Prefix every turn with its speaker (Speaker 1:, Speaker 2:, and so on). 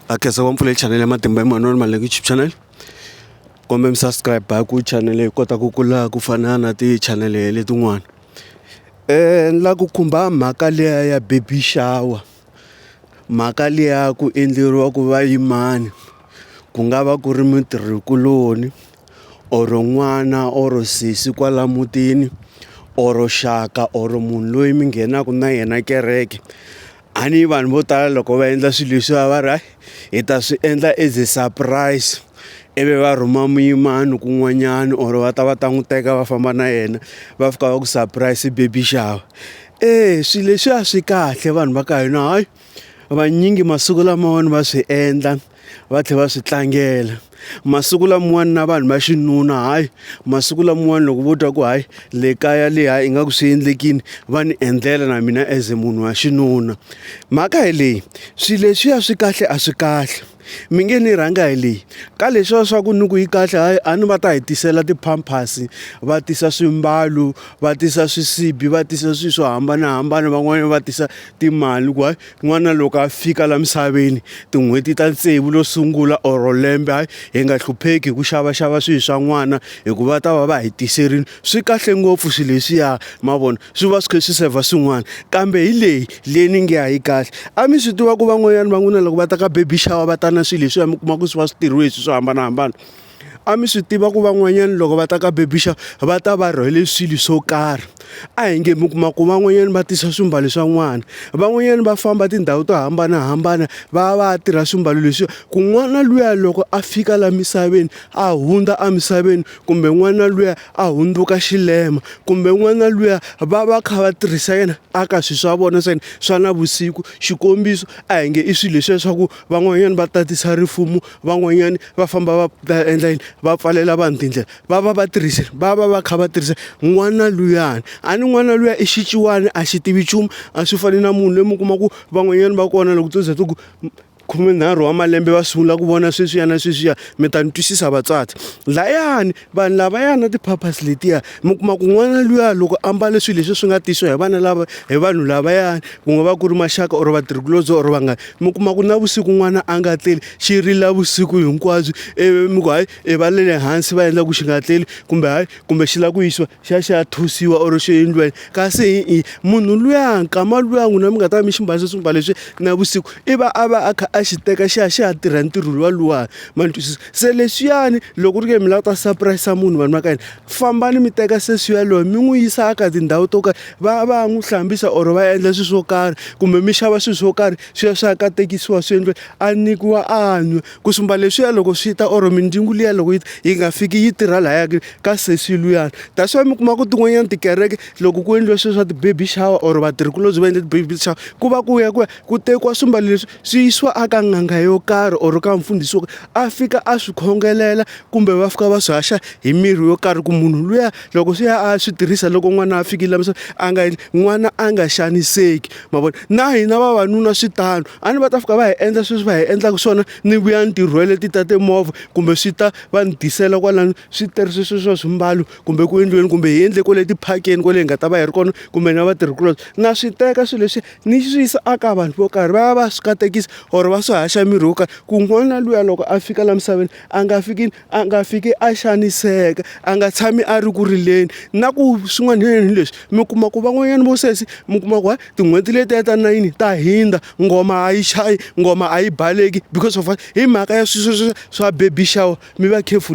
Speaker 1: akhesa wa mpfula channel ya matimba Emmanuel Maleki YouTube channel kombe mi subscribe hi ku channel yi kota ku kula ku fana na ti channel letin'wana eh ni la ku khumba mhaka liya ya baby shower mhaka liya ku endleriwa ku va yimani ku nga va ku ri mitirhikuloni or n'wana or sesi kwala mutini or xaka or munhu loyi mi nghenaka na yena kereke A ni vanhu vo tala loko va endla swilo leswiya va ri hi ta swi endla as a surprise ivi va rhuma muyimana kun'wanyana or va ta va ta n'wi teka va famba na yena va fika va ku surprise baby shower eya swilo leswiya swi kahle vanhu va ka hina hayi vanyingi masiku lamawani va swi endla. va tlhela va swi tlangela masiku lamawani na vanhu va xinuna hayi masiku lamawani loko vo twa ku hayi le kaya le hayi ingaku swi endlekini va ni endlela na mina as munhu wa xinuna mhaka hi leyi swilo leswiya swi kahle a swi kahle mi nge ni rhanga hi leyi ka leswiya swa ku ni ku yi kahle hayi a ni va ta hi tisela ti-pampers va tisa swimbalo va tisa swisibi va tisa swilo swo hambanahambana van'wanyana va tisa timali ku hayi N'wana loko a fika la misaveni tin'hweti ta tsevu lo sungula or lembe hayi hi nga hlupheki hi ku xavaxava swilo swa n'wana hikuva va ta va va hi tiserini swi kahle ngopfu swilo leswiya ma vona swi va swi kha swi saver swin'wana kambe hi leyi leyi ni nge a yi kahle a mi swi tiva ku van'wanyana va n'wina loko va ta ka baby shower va ta na swilo leswiya mi kuma ku swi va swi tirhiwe hi swilo swo hambanahambana. A mi swi tiva ku van'wanyana loko va ta ka baby shower va ta va rhwele swilo swo karhi a hi nge mi kuma ku van'wanyana va tisa swimbalo swa n'wana van'wanyana va famba tindhawu to hambanahambana va ya va ya tirha swimbalo leswi ku n'wana luya loko a fika laha misaveni a hundza emisaveni kumbe n'wana luya a hundzuka xilema kumbe n'wana luya va va kha va tirhisa yena a ka swilo swa vona swa yena swa navusiku xikombiso a hi nge i swilo leswiya swa ku van'wanyana va tatisa rifumo. van'wanyani va famba va ta endla yini va pfalela vanhu tindlela va va va tirhisile va va va kha va tirhisa n'wana luyani a ni n'wana luya i xiciwani a xi tivi nchumu a swi fani na munhu loyi mi kuma ku van'wanyani va kona loko to za ti ku khumenharhu wa malembe va sungula ku vona sweswiya na sweswiya mi ta ni twisisa vatswari layani. Vanhu lavaya na ti-purpose letiya mi kuma ku n'wana luya loko a mbale swilo leswi swi nga tisiwa hi vana lava hi vanhu lavayani ku nga va ku ri maxaka or vatirhikulobye or vanghana mi kuma ku navusiku n'wana a nga tleli xi rila vusiku hinkwabyo ivi mi ku hayi i va le hansi va endla ku xi nga tleli kumbe hayi kumbe xi lava ku yisiwa xi ya xi ya thusiwa or xi endliwa yini kasi hi munhu luya nkama luya n'wina mi nga ta va mi xi mbarile swimbalo leswi navusiku i va a va a kha a xi teka xi ya xi ya tirha ntirho luwa luwani ma ni twisisa se leswiyani loko ri ke mi lava ta sapurayisa munhu vanhu va ka yini fambani mi teka sesi yaloyo mi n'wi yisa aka tindhawu to karhi va va ya n'wi hlambisa or va endla swilo swo karhi kumbe mi xava swilo swo karhi swi ya swi ya katekisiwa swi endliwe a nyikiwa a nwe ku sumba leswiya loko swi ta or mindzingu liya loko yi yi nga fiki yi tirha laya ka sesi luyani that's why mi kuma ku tin'wanyana tikereke loko ku endliwa swilo swa ti-baby shower or vatirhikulobye va endle ti-baby shower ku va ku ya ku ya ku tekiwa swimbalo leswi swi yisiwa a ka n'anga yo karhi or ka mfundhisi wo a fika a swi khongelela kumbe va fika va swi haxa hi mirhi yo karhi ku munhu luya loko swi ya a swi tirhisa loko n'wana a fikile laha misaveni a nga n'wana a nga xaniseki ma vona na hina vavanuna swi tano a ni va ta fika va hi endla sweswi va hi endlaka swona ni vuya ni tirhwele ti ta timovha kumbe swi ta va ni tisela kwalano switirhisiwa swa swa swimbalo kumbe ku endliweni kumbe hi endle kwale tiphakeni kwale hi nga ta va hi ri kona kumbe na vatirhikulobye na swi teka swilo leswi ni swi yisa aka vanhu vo karhi va ya va swi katekisa or va swi haxa mirhi wo karhi ku n'wana luya loko a fika laha misaveni a nga fiki a nga fiki a xaniseka a nga tshami a ri ku rileni na ku swin'wana hi leswi mi kuma ku van'wanyana vo sesi mi kuma ku tin'hweti letiya ta nayini ta hindza ngoma a yi chayi ngoma a yi baleki because of hi mhaka ya swi swa baby shower mi va careful.